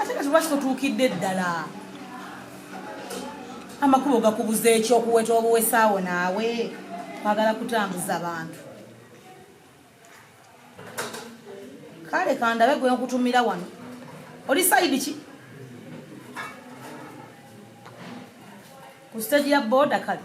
ate kati lwaki totuukidde ddala amakubo gakubuza ekyokuweta obuwesaawo naawe kwagala kutambuza bantu kale kandabe gwe nkutumira wano oli sayidi ki ku siteegi ya booda kale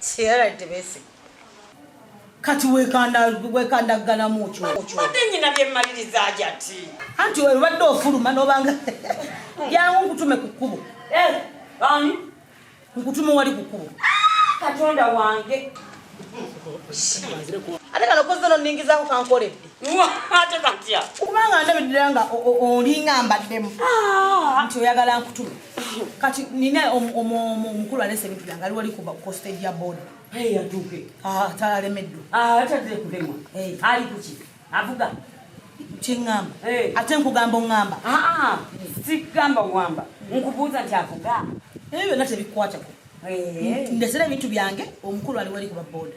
Sierra Tebesi. Kati wekanda wekanda gana mucho. Mate nyina bye maliriza ajati. Anti we badde ofuluma nobanga. Yangu nkutume kukubo. Eh, bani? Nkutume wali kukubo. Katonda wange. Ate kano kozo no ningiza ku kankole. Mwa ate kantia. Kubanga ndabidira nga olinga mbaddemu. Ah, anti oyagala nkutume. kati nina omukulu alese ebintu byange ali wali kuba ku stage ya boda yatuuke ah, talemeddo ah, atadde kulema ali kuki avuga kyeŋŋamba ate nkugamba oŋŋamba ah, sikugamba oŋŋamba nkubuuza nti avuga ebyo byonna tebikwatako ndesera ebintu byange omukulu ali wali kuba boda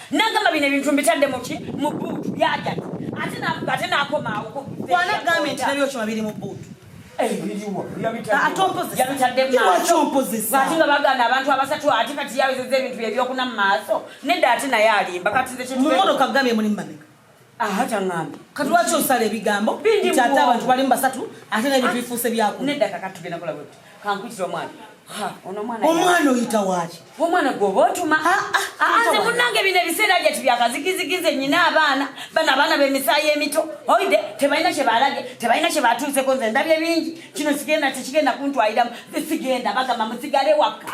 nagamba bino ebintu mbitadde muki mu buutu byajati ate navuga ate nakomaawo kwana gambe nti nabyo kyuma biri mu buutu atompozesaatinga bagana abantu abasatu ate kati yawezeza ebintu byebyokuna mu maaso nedda ate naye alimba kati mumotoka gambe muli mabega aha kyaŋŋambye kati lwaki osala ebigambo nti ate abantu balimu basatu ate nebintu bifuuse byaku nedda kakati tugenda kola bwe kankuyitira omwana omwana oyita waaki omwana gwoba otuma nze munange bino ebiseera gye tibyakazikizikize nyina abaana bano abaana bemisayi emito oide tebalina kyebalage tebalina kyebatuuseko nze ndabye bingi kino sigenda tekigenda kuntwaliramu sigenda bagamba musigale wakka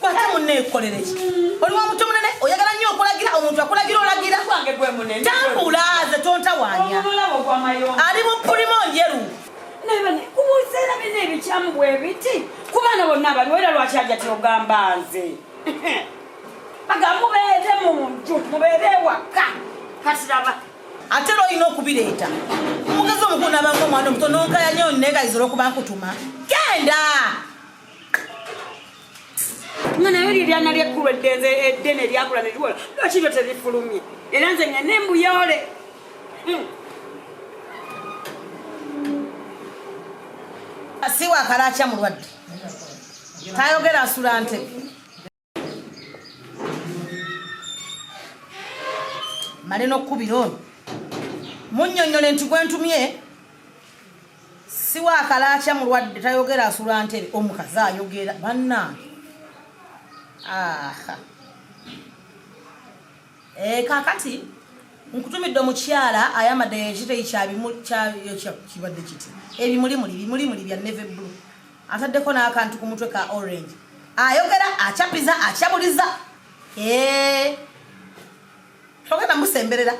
kwata munne ekolere ki oli wa mutu munene oyagala nnyo okulagira omuntu akulagira olagira tambula ze tontawanya ali mu pulimo njeru kubuzeera bina ebikyamu bwebiti kubaana bonna abaliwo era lwaki aja tyogamba nze aga mubeere mu nju mubeere ewaka katiraba ate era olina okubireeta omugezi omukulu nabanga omwana omuto nonkaya nyo negayizira okuba nkutuma genda nga nayo lye lyana lyekkulu eddenze eddene eryakula ne liwola lwaki lyo terifulumye era nze nga ne mbuyoole hmm. si wakalaakya mulwadde tayogera asula ntebe male n'okkubira ono munnyonnyole nti gwe ntumye siwa akalaakya mulwadde tayogera asula ntebe omukazi ayogera bannange aha eh, kakati nkutumidde omukyala ayamadde ekiteyi kyabimuli kibadde kiti ebimuli muli bimuli muli bya neve blue ataddeko n'akantu ku mutwe ka orange ayogera acapiza acabuliza eh. togenda musemberera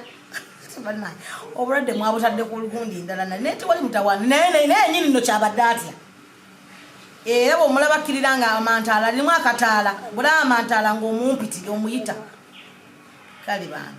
obulwadde mwabutadde ku lugundi ndala naye tewali mutawaana naye nayeyini nno kyabadde atya era bwomulabakkirira nga amantaala alimu akataala bula amantaala ngaomumpiti omuyita kale baana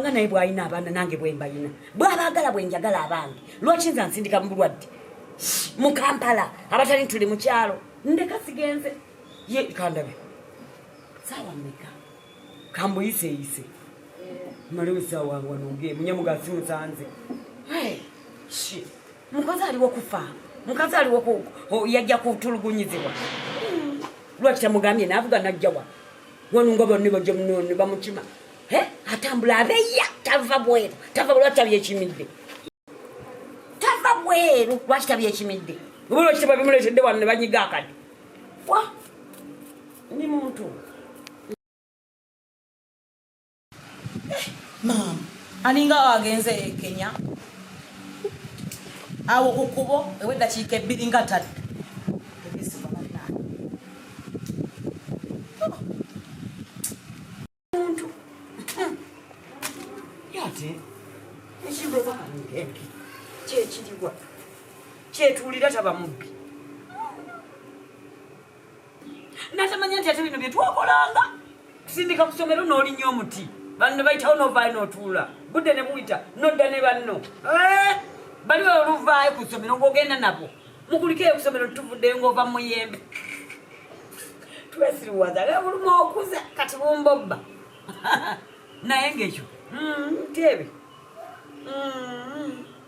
nga naye bwalina abaana nange bwembalina bwabaagala bwenjagala abange lwaki nza nsindika mu bulwadde mu kampala abatali ntuli mukyalo ndeka sigenze ye kandabe saawa meka kambuyiseyise maliwe saawa wange munyamuga simusanze mukazi aliwo kufa mukazi aliwo yajja kutulugunyizibwa lwaki tamugambye navuga najjawa wano nga banne bajja munone bamukima atambula abeya tava bweru tava lwaki tabyekimidde tava bweru lwaki tabyekimidde oba lwaki tebabimuletedde wano ne banyiga akadi wa ni muntu eh, maama alinga agenze e kenya awo ku kubo eweddakiika ebbiri nga tadde kyekiriwa kyetuulira taba mubbi natamanya nti ate bino byetwakolanga tusindika ku somero n'olinya omuti banno bayitawo novaayo notuula budde ne buyita nodda ne banno eh, bali oluvaayo ku somero ng'ogenda nabo mukulikeyo ku somero tuvudde ng'ova mu muyembe twesiriwaza nga buluma okuza kati bumbobba naye ng'ekyo mm, teebe mm.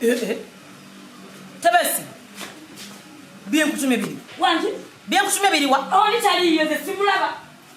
Eh, eh. Tebesi. Bien kutume bili. Wanji. Bien kutume bili wa. Oni tali yote simulaba.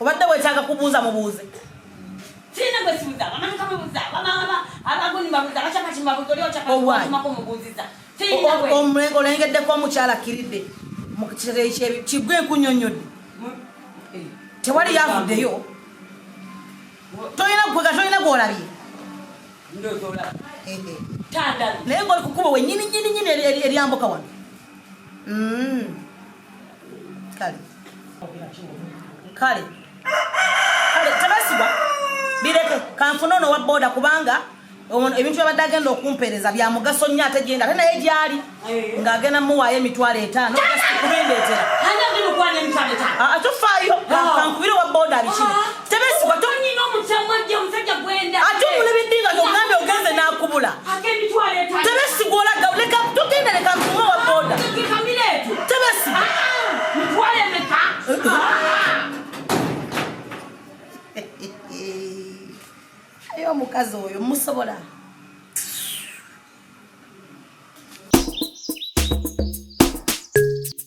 obadde wetaaga kubuuza mubuuze sirina gwe sibuza abamanyi kamubuza abaguni babuza abakyakati mbabuza oli okyakatumako mubuuziza olengeddeko omukyala akkiridde kigwe enkunyonyodde eh. tewali yavuddeyo tolina gwega tolina gwolabye eh, eh. naye ngaoli kukuba wenyini nyini nyini eryambuka wano mm. kale kale kale tebesigwa bireke kanfuna ono wa boda kubanga ebintu byabadde agenda okumpeereza bya mugaso nnyo ate gyenda ate naye gyali eh. ng'agenda muwaayo emitwalo etaano kubindeetera ah, ah, tufaayo ah. kankubire wa boda bikiri tebesigwa tonyina omukyamwa gye omusajja gwenda ate omulebe dinga nogambe ogenze nakubula tebesigwa olaga leka tugenda leka nkume wa boda tebesigwa ayo omukazi oyo musobola